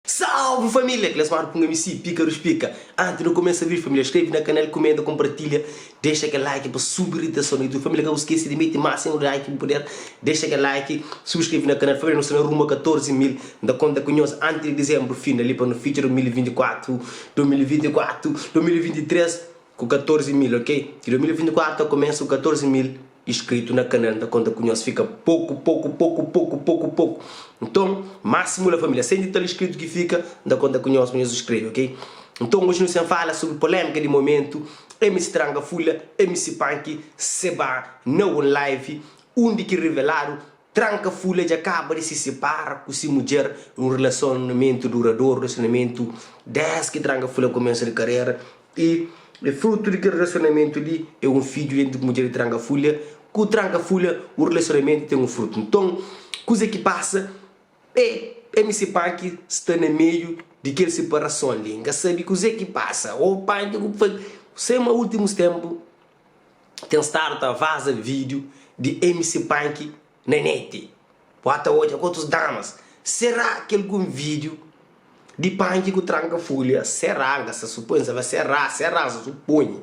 Salve família! Kles manu punga mi si pika ruspika anti nu kumesa vídiu família skrebe na kanal kumenta konpartilha dexa kel like pa subi riteson na youtube família ka bu skese di mete más un like bu puder dexa kel like subskrebe na kanal família nu sta na rumo a 14 mil N ta konta ku nhos anti di dizembru fina li pa nu fitxa 2024 2024 2023 ku 14 mil ok ki 2024 ta kumesa ku 14 mil iskritu na kanal nta konta ku nhos fika poku poku poku poku poku poku nton masimu la familia 100 i tal iskritu ki fika nta konta ku nhos pa nhos iskrebe ok nton oji nu sen fala sobri polemika di momentu mc tranga fula mc panki se ba na un live undi ki riveladu tranka fula dja kaba di si sipara ku si mudjer un rilasonamentu duradoru rilasonamentu des ki tranga fula kumesa di karera I frutu di kel relasionamentu li é un fidju entri mudjer di trankafulha ku trankafulha, un relasionamentu ten un frutu. Nton, kuza ki pasa é MC Punk sta na meiu di kel separason li, N ka sabe kuzê ki pasa, ô Punk kuzê ki bu faze? Sê ma últimus ténpu ten stadu ta vaza vídiu di MC Punk na neti, Wah ta odja ku otus damas Será ki algun vídiu di panki ku tranka folha Será, N ka sta supoi, N saba Será, Será, N sta suponhi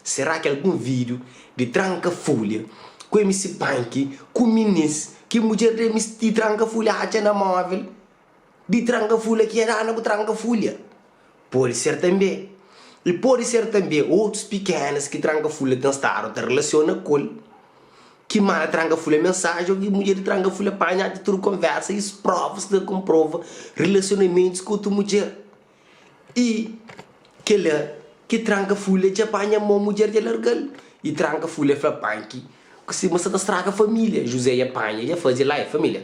Será ki algun vídiu di tranka folha Ku MC Panki ku minins ki mudjer da MC Tranka folha atxa na móvel, Di tranga fula ki N ana bu tranga fulha. Pode ser tanbê i pode ser tanbê otus pikénas ki tranga fula ten stadu ta relasiona ku-l, ki manda tranga fula mensaji ô ki mudjer di tranga fula panha-l ti tudu konversa i sprovas ta konprova relasionamentus ku otu mudjer. I kela ki tranga fula dja panha mô mudjer dja larga-l i tranga fula fla panki ku si ma sa ta straga família. Juzé dja panha dja faze la é família.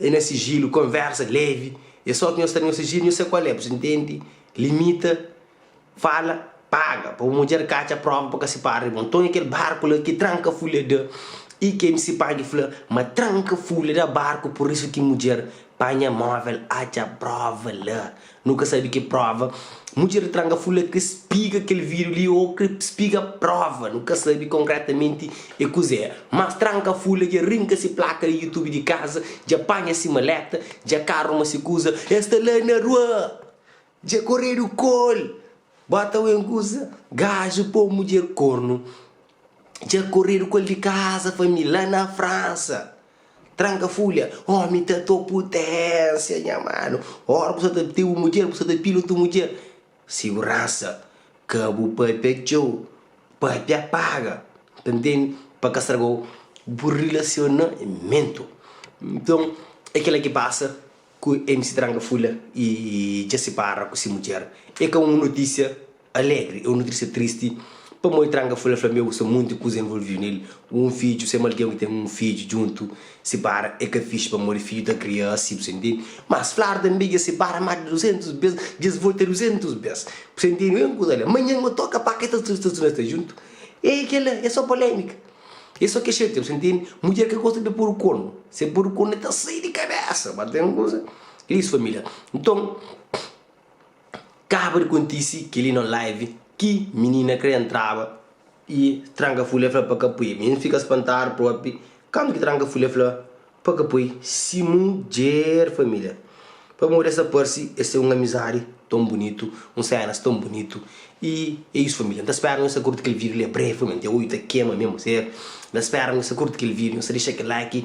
É na sijilu, konversa levi. É só ki nhos sta na nhos sijilu nhos sai ku alé. Bu sta ntende? Limita, fala, paga pa bu mudjer ka atxa próva pa ka sipara di bo. Nton é kel barku la ki tranka fúlia da. I kel nsipadju fla ma tranka fúlia da barku, pur isu ki mudjer panha móvel atxa próva la. Nu ka sabe ki prova. Mudjer di tranga fla ki spiga kel vidru li o ki spiga prova. Nu ka sabe konkretamenti e kuzé. Mas tranga fla dja rinka si plaka di YouTube di kaza, dja panha si maleta, dja ka ruma si kuza. El sta la na rua, dja koredu kol. Bo ta oin kuza? Gaju po mudjer kornu. Dja koredu kol di kaza, família, la na Fransa. Tranka fulha, Ómi ta to puténsia, nha manu. Óra bu sta ta btê bu mudjer, bu sta ta pila otu mudjer. Siguransa, Ka bu pâpia txeu, pâpia paga. Ta ntende? Pa ka straga bu rilasionamentu. Nton, é kela ki pasa ku MC Tranka Fulha i dja sipara ku se mudjer. É ka un notisia Alegri, eu nutri-se tristi pamodi tranga fla fla meu sa munti kuza envolviu nel, un fidju sema algen ki ten un fidju djuntu si bara e ka fixi pamodi fidju ta kria asi bu sa intendi, mas flar tanbe dja si bara mas di duzentus bes dja es volta duzentus bes bu sa intendi mesmu kuza la manhan ma toka pa ke ta sta sta sta djuntu e kela e so polemika e so ke xatia bu sa intendi mudjer ka gosta di podu konu se podu konu e ta sai di kabesa ba ten kuza e is familia nton. Kaba di kontisi keli no live ki minina kre entraba y tranka fule fla pa ka pui. Minina fika spantadu propi kandu ki tranka fule fla pa ka pui si mudjer familia. Pamodi es ta parsi es ten un amizadi ton bunitu, un senas ton bunitu y e isu familia. N ta spera nhos ta kurti kel video li brevemente. Oi ta kema mesmu ser. N ta spera nhos ta kurti kel video, nhos ta dexa kel like.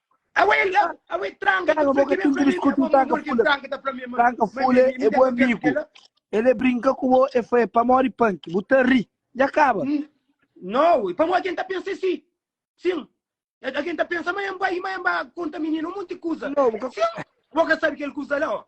Awe el la, awe tranka ta fla ki ben fla mi, mi amor, amor ki tranka ta fla mi, ma mi mi dja ka kre kel la. El e brinka ku bo, e fla, e pamodi panki bu ta ri, dja kaba. No, ui, pamo algen ta pensa si, sin, algen ta pensa ma en bai, ma en ba konta mininu un monti kuza, sin, bo ka sabi kel kuza la, o.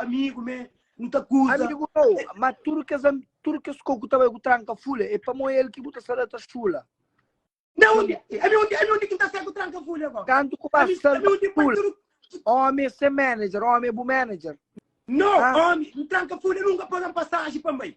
amigu me nu ta kuza Amigu mau, ma tudu kes am- tudu kes ko ku ta bai ku tranka fule, e pamoi el ki bu ta sa da ta xula. na undi ami undi ami undi ki ta sai ku tranka fule ko Kantu ku ba ami sal ami undi pa fule, tudu omi é se manager, omi é bu manager. no Ah. omi n tranka fule nunka pagan pasaji pa n bai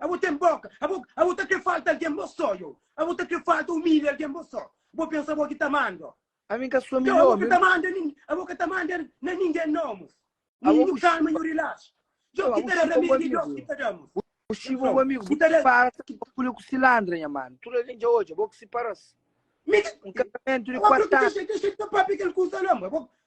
Abo ten boka, abo abo ta kre falta algen bo so yo, abo ta kre falta umilha algen bo so, bo pensa abo ki ta mando. Ami ka so milhor. Tchau, abo ka ta manda nin, abo ka ta manda na ningen nomus, nin Abo nhu ku kalma, nhu rilaxa. Tchau, Djob ki abo ta da chipa bu ramedu é amigu Deus yo. ki ta damus. Bu Nha chipa bu frau, amigu, ki bu ta da. sipara ta ba pule ku silandra nha manu. Tudu algen dja odja bo ku siparas. Mi ka, Un kasamentu di abo abo kuatu anu. dexa, dexa di ta papia kel kuza la, ma abo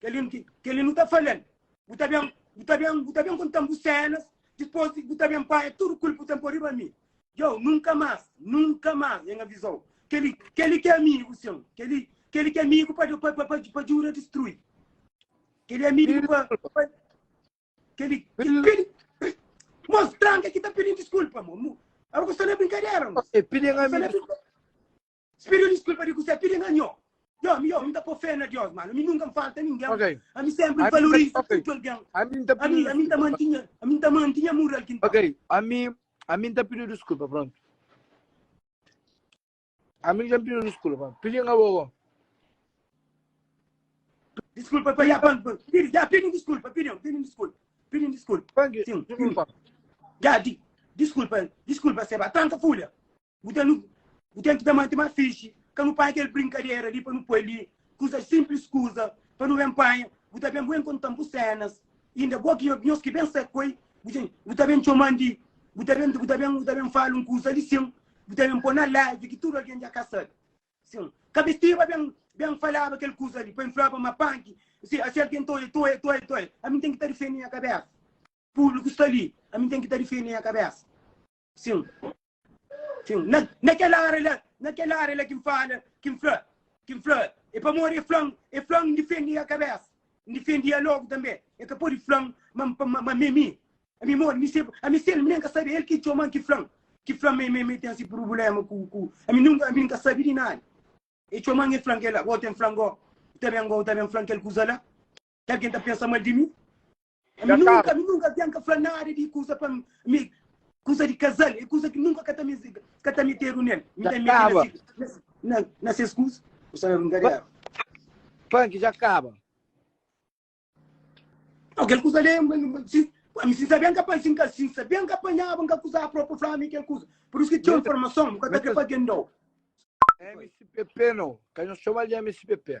Kel-li nu kel-li nu ta fala-l, Bu ta ben, bu ta ben, bu ta ben konta-m bu sénas, dipôs di bu ta ben panha tudu kul bu ten pô riba mi. Djau, nunka más, nunka más, N aviza-u, kel-li, kel-li ki é amigu seu, kel-li, kel-li ki é amigu pa, pa, pa, pa, pa djuda distrui. Kel-li é amigu pa, pa kel-li, kel-li, mos, tranka ki ta pidi-m diskulpa, mo, mo, abo ku sta na brinkadera, mos. E pidi-m ami, Si pidiu diskulpa di kusé? Pidi na nho. Yo, mi yo, mi ta po fé na Dios, mano. Ami nunka N falta ningen. Ok. Ami senpri N Ami ta valoriza ok. tudu algen. Ami N ta Ami, pidiu ami N ta diskulpa. manti nha, ami N ta manti nha mural ki N ta. Ok. Ami, ami N ta pidiu diskulpa, prontu. Ami dja N pidiu diskulpa. Pidi na bo. Diskulpa pa ya pan, pan. Pidi, ya, pidi diskulpa, pidi, pidi diskulpa. Pidi diskulpa. Panki, Sim, sim. diskulpa. Ya, di, diskulpa, diskulpa, Seba. Tranka fulha. Bu ten bu ten ki ta mante má fixi, ka nu panha kel brinkadera li pa nu poi li, kuza sinplis kuza pa nu ben panha, bu ta ben bu ben kontan bu sénas, inda bo ki nhos nhos ki ben sta koi, bu dja bu ta ben txoman di, bu ta ben bu ta ben bu ta ben fala un kuza li sin, bu ta ben poi na live ki tudu algen dja ka sabe sin, ka be stiba ben ben falaba kel kuza li pa N flaba ma panki si asi algen ta odja ta odja ta odja ta odja ami ten ki ta difende nha kabésa, públiku sta li ami ten ki ta difende nha kabésa. Sin, sin, na, na kel ária la, na kel ária la ki N fala, ki N fla, ki N fla, é pamodi e fla-m, e fla-m N difende e kabésa, N difende e alógu tanbê, e ka pode fla-m ma N pa, ma, ma m'é mi, ami modi mi se, ami se el, mi nen ka sabe, el ki txoma-m, ki fla-m, ki fla-m ma, ma, ma e ten si prubuléma ku, ku, ami nunka, ami N ka sabe di nada, e txoma-m, e fla-m kel-la, bo ten fla-m gó, ta ben gó, ta ben fla-m kel kuza la. Algen ta pensa mal di mi? Ami nunka, ami nunka, algen ka fla nada di kusa pa mi, kusa di kazal, e kusa ki nunka ka ta mizi, ka ta metedu nel. Mi ta mete na si, na si, na, na ses kusa. Bu sta na lunga di Eva. Funk dja kaba. Nau, kel kusa li, ma, ma, si, ami sin sabe, N ka pa, si N ka, si N sabe, N ka panhaba, N ka kuzaba propi pa fla mi kel kusa. Pur isu ki txeu informason, bu ka ta krê pa algen dau. Mspp no, ka nhos txomal di mspp.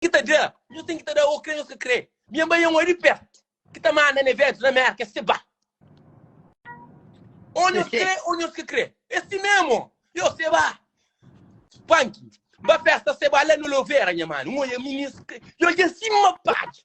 ki ta da, nhos ten ki ta da o kre nhos ka kre. Nha bai é un ari pertu ki ta manda ne vedu na Merka es te ba. O nhos kre o nhos ka kre. É si memo. Yo se ba. Panki. Ba festa se ba la no Luvera nha manu. N oia minis. Yo dja sima padi.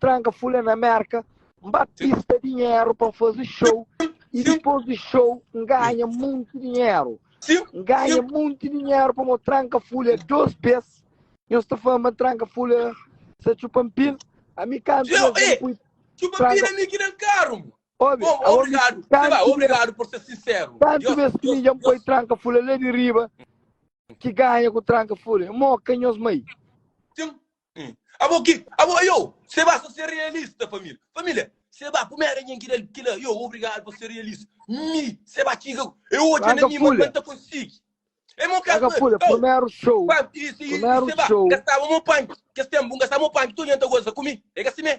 Tranka fula na Merka, N ba pista dinheru pa N faze show e dipos di show N ganha monte dinheru. N ganha monte dinheru pamo o tranka fula dos bes. Nhos sta fala ma tranka fula sa txupa mpil. Ami kantu bes Txeu, e, pui Txupa Tranka- pila mi ki na karu. mo. Obi, Bom, awo obrigado. mi- Sei lá, kantu obrigado por ser sincero. Kantu Deus- bes ki Deus- mi dja Deus- poi tranka fula la di riba ki ganha ku tranka fula. Mo ka nhos mai. Tchim, Abo ki, abo yo, seba sa ser realista família, família, seba kuma era nhen ki dal kila, yo, obrigado pa ser realista, mi, seba txiga, e odja na mi, ma ka ta konsigi, e mo ka ta, oh, primeru show, primeru show, seba, gastaba mo panki, kes tenpu, gastaba mo panki, tudu nhen ta goza ku mi, e ka si me.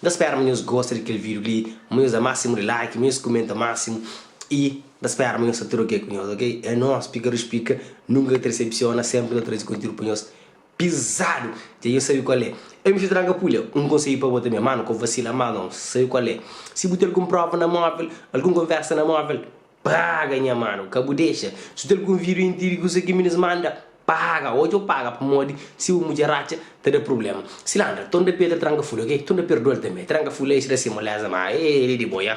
N ta spera ma nhos gosta di kel vídiu li, ma nhos da másimu di like, ma nhos kumenta másimu i N ta spera ma nhos ta troke ku nhos, ok? É nos, Pika Rius Pika, nunka ka ta desepsiona, sénpri nu ta traze konteúdu pa nhos pizadu! Dja nhos sabe kual é, Ei Mister Tranka Pulha, un konsedju pa bo tanbe, mano, ka vasila, mano, sabe kual é, si bu ten algun prova na móvel, algun konversa na móvel, Praga nha manu, ka bu dexa. Si ta algun video intiri kusa ki minis manda, paga, odja u paga pamodi si bu mudjer atxa ta da prublema. Silandra, ton da Pedra tranka ful ok, ton da perdual tanbe, tranka ful eish da si moleza ma ei li di bo ya.